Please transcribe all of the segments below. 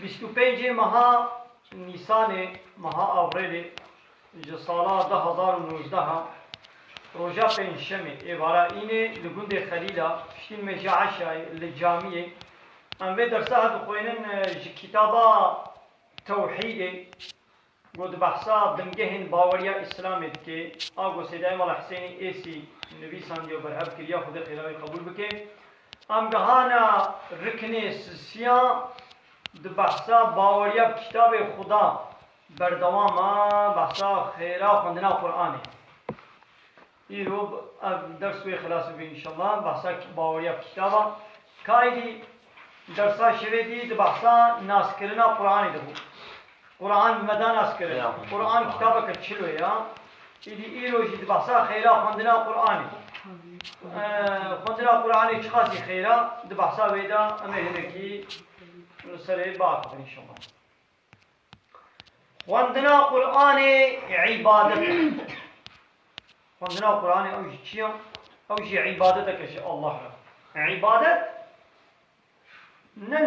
Bîst û pêncê meha Nîsanê, meha Avrêlê ji sala du hezar û nozdeh a roja pêncşemê êvara înê li gundê Xelîla piştî nimêja eşayê li camiyê em vê dersa dixwênin ji kitaba Tewhîdê Ku di behsa bingehên baweriya Îslamê dike, Agosê de Emala Hisênî Êsî nivîsandiye û berhev kiriye Xwedê qêra wî qebûl bike. Em gihana riknê sisiya di behsa baweriya bi Kitabê Xweda berdewam e, behsa xêra xwendina Quranê. Îro ev ders wê xilas bibe înşella. Behsa baweriya kitaba Kaîdî dersa şevê dî di behsa naskirina Quranê de bû. Quran bi me da naskirin. Quran kitabeke çilo ya. Îdî îro jî di behsa xeyra xwendina Quranê. Xwendina Quranê çiqasî xeyra di behsa wê de em ê hinekî li serê biaxivin înşella. Xwendina Quranê îbadet e. Xwendina Quranê ew jî çi ye? Ew jî îbadetek e ji Allah re. Îbadet ne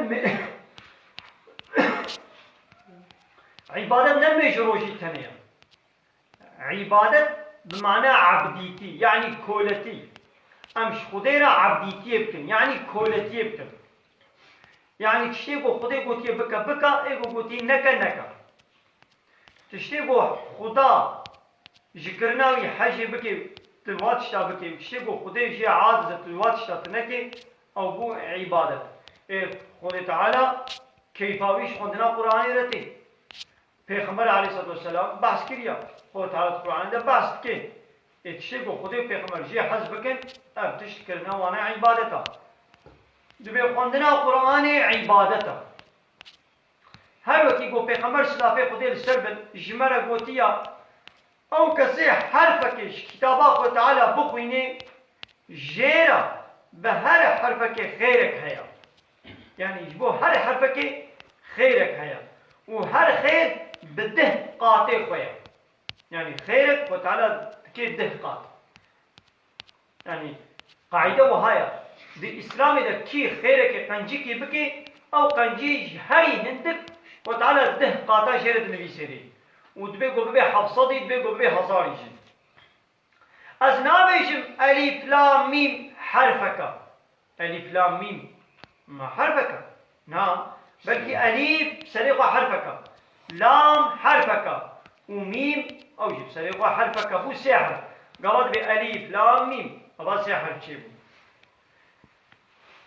îbadet ne mê ji rojî tenê ye. Îbadet bi mana ebdîtî yanî koletî. Em ji Xwedê re ebdîtiyê bikin yanî koletiyê bikin. Yanî tiştê ku Xwedê gotiye bike bike, ê ku gotiye neke neke. Tiştê ku Xweda ji kirina wî hejê bike tu va tişta bikê û tiştê ku Xwedê jê aciz e tu va tişta tu nekê ew bû îbadet. Ê Xwedê Teala keyfa wî ji xwendina Quranê re tê. Pêxember aleyhisselatüvesselam behs kiriya, Xweda Teala di Qur'anê de behs dike. Ê tiştê ku Xwedê û Pêxember jê hez bikin, ev tişt kirina wan e îbadet a. Divê xwendina Qur'anê îbadet a. Her wekî ku Pêxember silafê Xwedê li ser bin ji me re gotiya, Ew kesê herfekê ji kitaba Xweda Teala bixwînê, jê re bi her herfekê xêrek heye. Yanî ji bo her herfekê xêrek heye û her xêr bi deh qatê xwe ye. Yanî xêrek xwe teala dike deh qat. Yanî qaîde wiha ye, di îslamê de kî xêrekê qencikî bike, ew qencî ji herî hindik xwe teala deh qata jê re dinivîse rê û dibê ku bibe hevsedî, dibê ku bibe hezarî jî. Ez nabêjim elîf la mîm herfeka. Elîf la mîm ma herfeka? Na, belkî elîf bi serê xwe herfeka, lam herfeka û mîm ew jî bi serê xwe herfeka bû sê herf. Gava dibê elîf la mîm ava sê herf çêbû.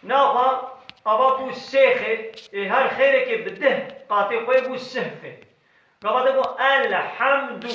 Na xwe ava bû sê xê ê her xêrekê bi dih qatê xwe bû sih xê. Gava de got elhamdû.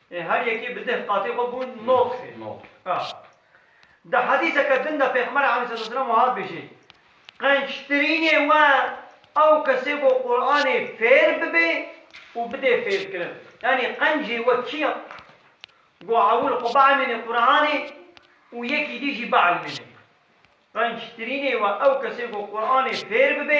Ê her yekê bi deh qatê xwe bûn nod xê. Nod. Di hedîseke din de Pêxember Aleyhisselatüvesselam wiha dibêje, Qençtirînê we ew kes e ku Quranê fêr bibe û bide fêrkirin. Yanî qencê we kî ye ku ewil xwe bielmêne Quranê û yekî dî jî bielmêne. Qençtirînê we ew kes e ku Quranê fêr bibe.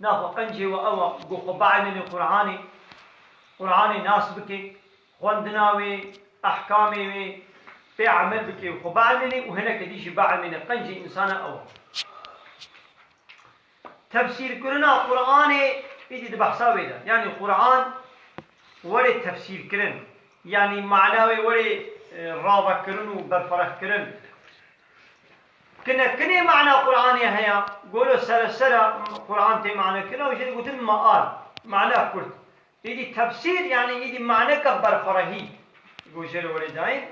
Na xwe qencê we ew a ku xwe bielîne Quranê, Quranê nas bike, xwendina wê, ehkamê wê, pê emel bike û xwe bielîne û hineke dî jî bielîne, qencê însana ew a. Tefsîrkirina Quranê, îdî di behsa wê de, yanî Quran were tefsîrkirin, yanî mana wê were ravekirin û berfirehkirin, Kine kinê mana Quranê heya, golo seresera Quran tê mane kira û jê digotin maal, mana kurt. Îdî tefsîr yanî îdî maneke berxwerehî ku jê re werê dayîn.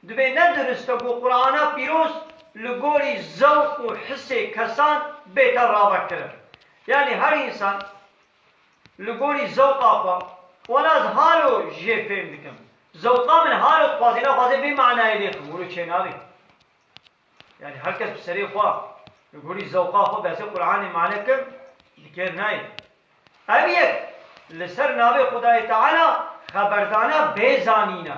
Dibê ne durist e ku Qurana pîroz li gorî zewq û hisê kesan bête ravekirin. Yanî her însan. Li gorî zewqa xwe, wela ez halo jê fêm dikim. Zewqa min halo dixwazê naxwazê vê manayê lê ximûro çênabê. Yanî her kes bi serê xwe, li gorî zewqa xwe behsê Quranê mane kim bi kêr nayê. Ev yek li ser navê Xwedayê Teala xeberdana bê zanîn e.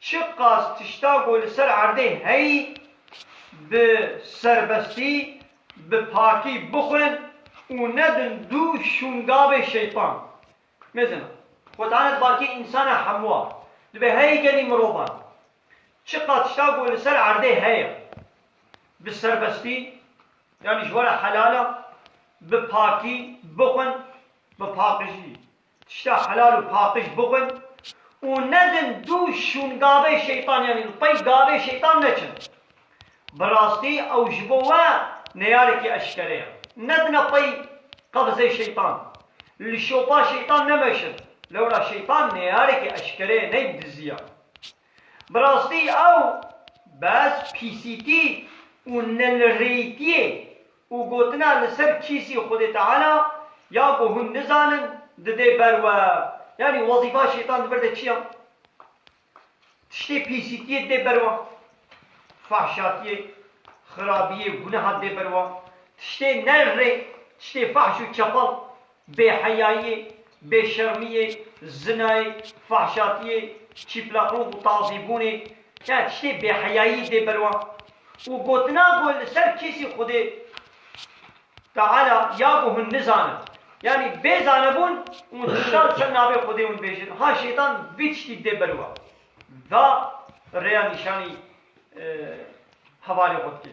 Çi qas tişta ku li ser erdê heyî bi serbestî, bi pakî bixwin û nedin dû şûngavê şeytan. Mêzin e. Xwetanet bakî însan e hemûa. Dibe heyî gelî mirovan. Çi qas tişta ku li ser erdê heye bi serbestî, yanî ji we re helal e, bi pakî bixwin, bi paqijî, Tişta helal û paqij bixwin û nedin dû şûngavê şeytan yanî li pey gavê şeytan neçin. Bi rastî ew ji bo we neyarekî eşkere ye. Nedine pey qevizê şeytan, li şopa şeytan nemeşin. Lewra şeytan neyarekî eşkere ye neyb dizî ye. Bi rastî ew bes pîsîtî û nelirêyîtiyê Û gotina li ser kîsî Xwedê Teala ya ku hûn nizanin didê ber we. Yanî wezîfa Şêtan di vir de çi ya? Tiştê pîsîtiyê didê ber we. Fahşatiyê, xirabiyê, guneha didê ber we. Tiştê nerr rê, tiştê fahş û çepal, Bêheyayî, bêşermiyê, zinayê, fahşatiyê, çîplaqlûq û tazîbûnê ya tiştê bêheyayî tê ber wan û gotina ku li ser kêsî Xwedê Teala ya ku hûn nizanin, yanî bê zanebûn hûn tişta li ser navê Xwedê hûn bêjin, ha Şeytan vî tiştî dê ber wan da rêya nîşanî hevalê xwe dike.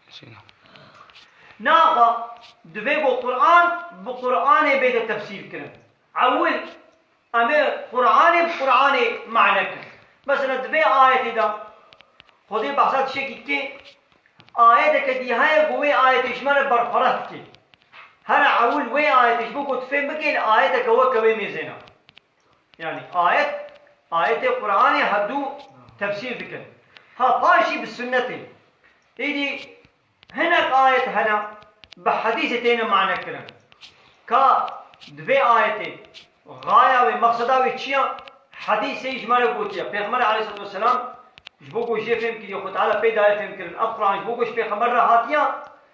Naxa divê ku Quran bi Quranê bêde tefsîrkirin. Ewil em ê Quranê bi Quranê mane kirin. Mesela di vê ayetê de Xwedê behsa tişekî dike, ayeteke dî heye ku wê ayetê ji me re berfireh dike. Here ewil wê ayetê ji bo ku tu fêm bikî li ayeteke weke wê mêzê ne. Yanî ayet ayetê Quranê herdû tefsîr dikin. Ha paş jî bi sunnetê. Êdî hinek ayet hene bi hedîsê têne mane kirin. Ka di vê ayetê gaya wê meqseda wê çi ya? Hedîsê ji me re gotiye Pêxember aleyhisselatü vesselam ji bo ku jê fêmkirî Xwedî Teala pey daye fêmkirin. Ev Quran ji bo ku ji Pêxember re hatiye.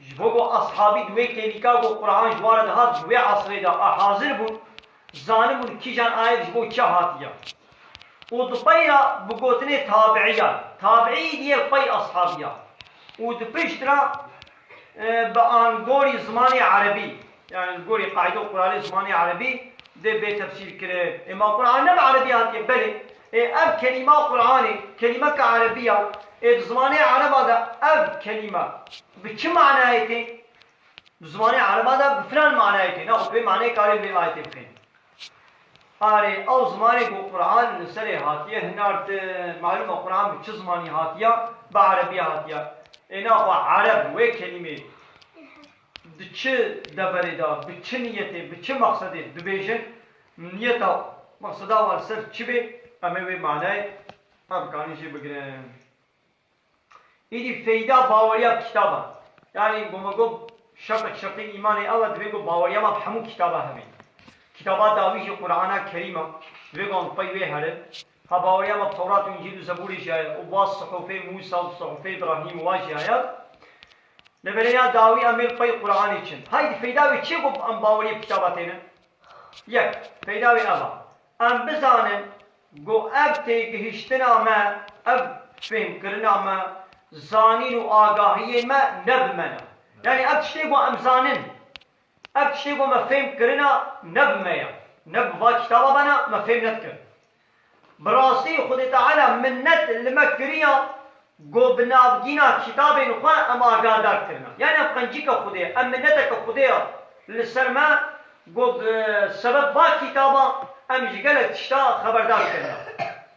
Ji bo ku eshabî di wê têlîka ku Qur'an ji wan re dihat ji wê esrê de a hazir bûn, zanibûn kîjan ayet ji bo kî hatiye. Û di pey re bi gotinê tabi'iyan, tabi'î diye li pey eshabiyan. Û di pişt re bi an gorî zimanê erebî, yanî li gorî qaîde û quralê zimanê erebî dê bê tefsîr kirin. Ê ma Qur'an ne bi erebî hatiye? Belê. Ê ev kelîma Quranê, kelîmeke erebî ya. Ê di zimanê ereba de ev kelîma bi çi manayê tê? Di zimanê ereba de bi filan manayê tê. Naxwe tu vê manayê karê li vê ayetê bixênî. Arê ew zimanê ku Quran li serê hatiye hinartin. Malum e Quran bi çi zimanî hatiya? Bi erebî hatiya. Ê naxwe ereb wê kelîmeyê. Di çi deverê de, bi çi niyetê, bi çi mexsedê dibêjin, niyeta û mexseda wan li ser çi bê, em ê wê manayê hev bikarin jê bigirin. Îdî feyda baweriya kitaba ye. Yanî ku me got şerteke şertên îmanê ew e divê ku baweriya me bi hemû kitaba hebî. Kitaba dawî jî Qur'ana Kerîm e, divê ku em li pey wê herin. Ka bawerîya me bi Tewrat û Încîl û Zeburê jî heye û baz Suhufê Mûsa û Suhufê Îbrahîm wa jî heye. Li vir ya dawî em ê li xweyî Quranê çin. Heydî feyda wê çi ye ku em bawerîyê bi kitaba têne? Yek, feyda wê ev a, em bizanin ku ev têgihîştina me, ev fêhmkirina me, zanîn û agahiyên me ne bi me ne. Yanî ev tiştê ku em zanin Ev tiştê ku me fêm kirina ne bi me ye, ne bi va kitaba me ne, me fêm nedikin. Bi rastî Xwedê Teala minnet li me kiriya ku bi navgîna kitabên xwe em agahedar kirine. Yanî ev qencîka Xwedê ye, ev minneteke Xwedê ye li ser me ku bi sebeb va kitaba em ji gelek tişta xeberdar kirine.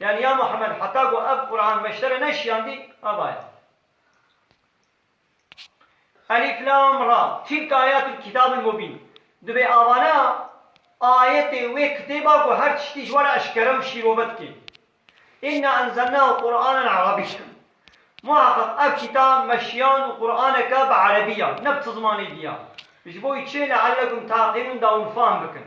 Yanî ya Muhammed heta ku ev Quran me ji te re neşiyandî, ava ye. Elîf Lam Ra, Tîlk Ayatûl Kîtabîl Mubîn, Divê ava ne ayetê wê kitêba ku her tiştî ji we re eşkere û şîrove dike. Înna enzelnahû Quranen Erebîyen, Muheqeq ev kîtab me şiyand û Quraneke bi Erebî ya, ne bi ti zimanê dî ya. Ji bo wî çi, leellekum teaqîlûn da hûn fahm bikin.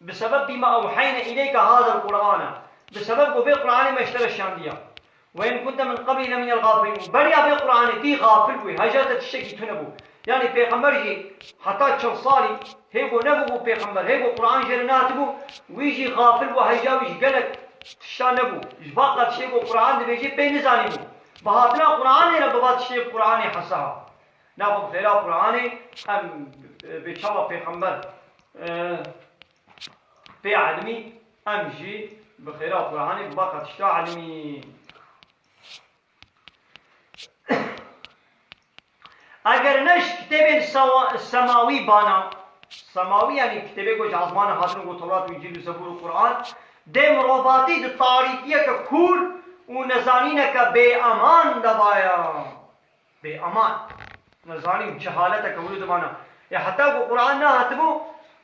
Bi sebeb bîma ew heyne îleyka hazir Qur'an e, bi sebeb ku vê Qur'anê me ji te re şandiya. Ve in kunte min qeblî leminel gafilîn û beriya vê Qur'anê tî gafil bûyî, heja te tiştekî tune bû. Yanî pêxember jî heta çil salî hêgo nebûbû pêxember, hêgo Qur'an jê re nehatibû, wî jî gafil bû heja wî ji gelek tiştan nebû. Ji ber ka tiştê ku Qur'an dibêjê pê nizanîbû. Bi hatina Qur'anê re bi va tiştê bi Qur'anê hesaba. Naxo bi fêra Quranê em bê çawa pêxember pê elmî em jî bi xêra Quranê bi baka tişta elmîn. Eger ne ji kitêbên semawî bana, semawî yanî kitêbê ku ji ezmanan hatine ku Tewrat û Încîl û Zebûr û Quran, dê mirovatî di tarîkiyeke kûr û nezanîneke bêeman de baye. Bê aman. Me zanîn çi haleteke wilo dimana. Ê heta ku Quran nehatibû,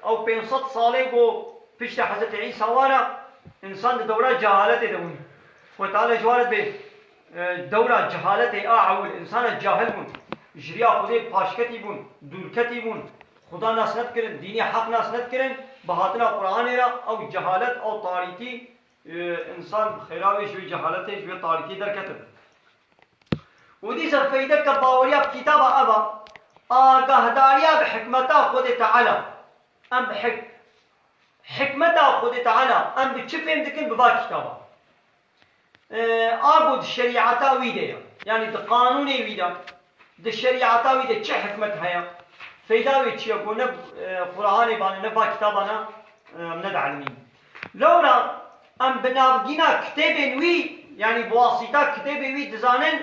ew pênc sed salê ku piştî Hezretê Îsa wana, însan di dewra cehaletê de bûn. Xwê teala ji wan re dibe. Dewra cehaletê a ewil, însanan cahil bûn. Ji riya Xwedê paşketî bûn, dûrketî bûn. Xweda nas nedikirin, dînê heq nas nedikirin. Bi hatina Quranê re ew cehalet, ew tarîtî Însan bi xêra wê ji wê cehaletê, ji wê tarikiyê derketibin. Û dîsa feydeke baweriya bi kîtaba ev a, agahdariya bi hikmeta Xwedê Teala. Em bi hik hikmeta Xwedê Teala em bi çi fêm dikin bi va kîtaba. A ku di şerîata wî de ya, yanî di qanûnê wî de, di şerîata wî de çi hikmet heye, feyda wê çi ye ku ne Qur'anê bane ne va kîtaban e em nedielmîn. Lewra em bi navgîna kitêbên wî yanî bi wasîta kitêbê wî dizanin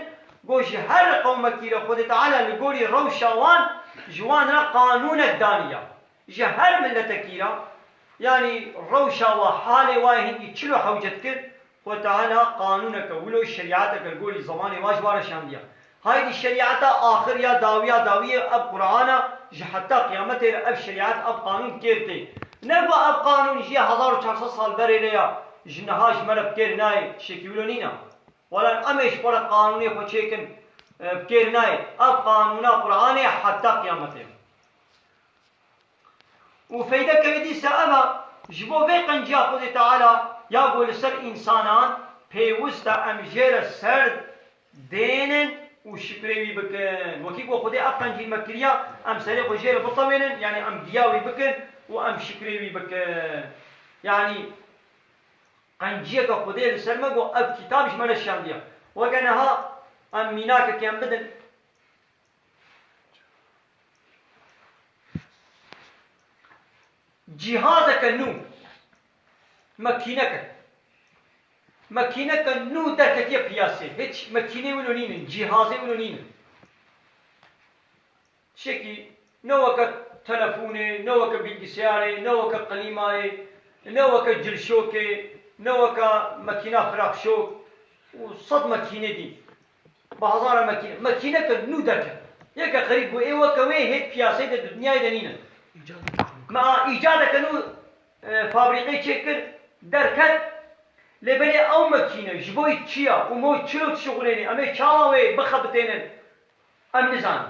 ku ji her qewmekî re Xwedê Teala li gorî rewşa wan ji wan re qanûnek daniya. Ji her miletekî re yanî rewşa we, halê we yê hingî çil û hewcet kir Xwe Teala qanûneke wilo şerîateke li gorî zemanê wan ji wan re şandiya. Haydî şerîata axir ya dawiya dawî ye ev Quran e, ji heta qiyametê re ev şerîat, ev qanûn bi kêr tê. Ne ku ev qanûn ji yê hezar û çar sed sal berê re ya, ji niha ji me re bi kêr nayê, tiştekî wilo nîne. Welan em ê ji xwe re qanûnê xwe çêkin, bi kêr nayê. Ev qanûna Quranê heta qiyametê ye. Û feyde ke dîsa ev e, ji bo vê qenciya Xwedê Teala ya ku li ser însanan pêwist e em jê re serd bênin û şikrê wî bikin. Wekî ku Xwedê ev qencî me kiriya, em serê xwe jê re bitewênin, yanî em giya wî bikin û em şikrê wî bikin. Yanî qenciyeke Xwedê li ser me got, ev kîtab ji me neşiyandiye. Weke niha em mînakekê em bidin. Cîhazeke nû, makîneke, makîneke nû derketiye piyasê. Hiç makîneyê wilo nînin, cîhazê wilo nînin. Tişekî ne weke telefonê, ne weke bîlgiseyarê, ne weke qilîmayê, ne weke cilşokê, ne weke makîna xirabşok û sed makîne dîn. Bazara mekîne, mekîne ke nû derket. Yê ke xerîb bû ê weke wê hêt piyaseyê de dudniyayê de nîn e. Me a îcade ke nû fabrîkeyê çê kir derket. Lê belê ew mekîne ji bo çiya û mo çilo dişuxulênê, em ê çawa wê bixebitênin em nizanin.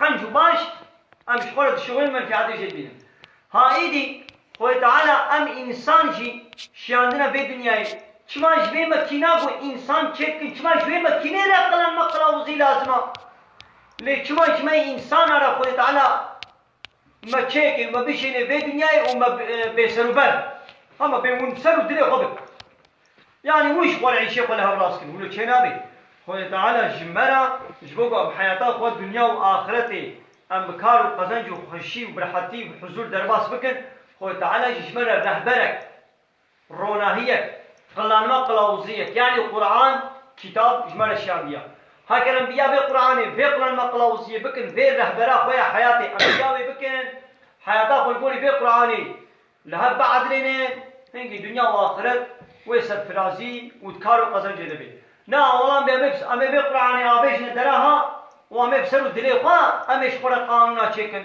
Qenc û baş em ji xwe re dişuxulin menfiatê jê dibînin. Ha êdî Xwedê Teala em însan jî şiyandine vê dinyayê. Çima ji vê mekîna ku însan çêk dikin, çima ji wê mekînê re qilan me qilauzî lazim a? Lê çima ji me însanan re Xwedê Teala Me çêkê, me bişênê vê dinyayê û me bêserûber bin. Ha me bê hûn ser û dilê xwe bikin. Yanî hûn ji xwe re îşê xwe li hev rast kirin. Wilo çê nabe. Xwedê Teala ji me re, ji bo ku em heyata xwe dinya û axiretê em bi kar û qezenc û xweşî û bi rehetî û bi huzûr derbas bikin, Xwedê Teala jî ji me re rehberek, Ronahiyek, qilanma qilawuziyek, yanî Quran, kîtab, ji me re şiyandiya. Heger em bi ya vê Quranê, vê qilanma qilawuziyê bikin, vê rehbera xwe ya heyatê, em bi ya wê bikin, heyata xwe li gorî vê Quranê li hev biedilênin, hingî dinya û axiret wê serfirazî û di kar û qezencê de bê. Na awalan bê em ê em ê vê Quranê avêjine dereha û em ê bi ser û dilê xwe em ê ji xwe re qanûna çêkin.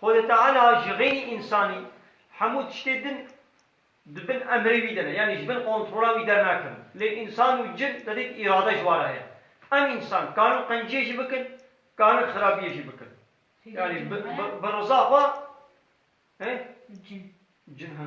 Xwedê Teala ji xênî însanî hemû tiştê din di bin emrê wî de ne, yanî ji bin kontrola wî dernakevin. Lê însan û cin tedêk îrade ji wan re heye. Em însan karin qenciyê jî bikin, karin xirabiyê jî bikin. Yanî bi riza xwe. Cin. Cin, he.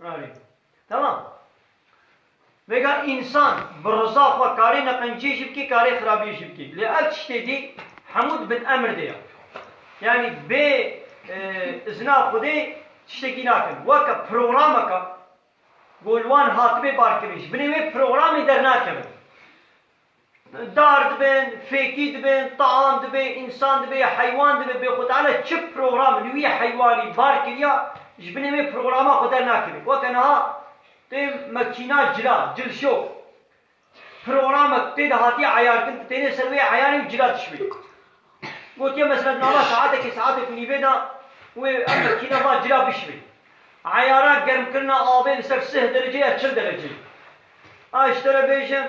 Arê. Temam. Vêga însan bi riza xwe karê neqenciyê jî bikê karê xirabiyê jî bikê. Lê ev tiştê dî hemû di bin emir de ye. Yanî bê izina Xwedê tiştekî nakin. Weke programeke ku li wan hatibê barkirin ji binê wê programê dernakevin. Dar dibin, fêkî dibin, taam dibe, însan dibe, heywan dibe, bê xwe teala çi program li wî heywanî bar kiriya, ji binê wê programa xwe dernakeve. Weke niha tê mekîna cila, cilşok. Programek tê de hatiye eyartin, tu tênê ser wê eyanê û cila dişuye. Gotiye mezvetnama saetekê saetê ku nîvê da wê em mekîna van cila bişivin. Eyara germkirina avê li ser sih derece ya çil dereceyê. A ji te re bêjim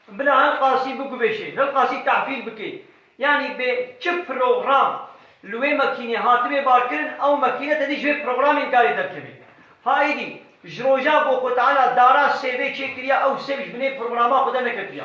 bila hilqasî biguvêşê, hilqasî tahfîl bikê. Yanî bê çi program li wê mekînê hatibê barkirin ew mekîne tedî ji vê programên karê derkevê. Ha êdî ji roja bo ku teala dara sêvê çêkiriya ew sêv ji binê programa xwe de neketiya.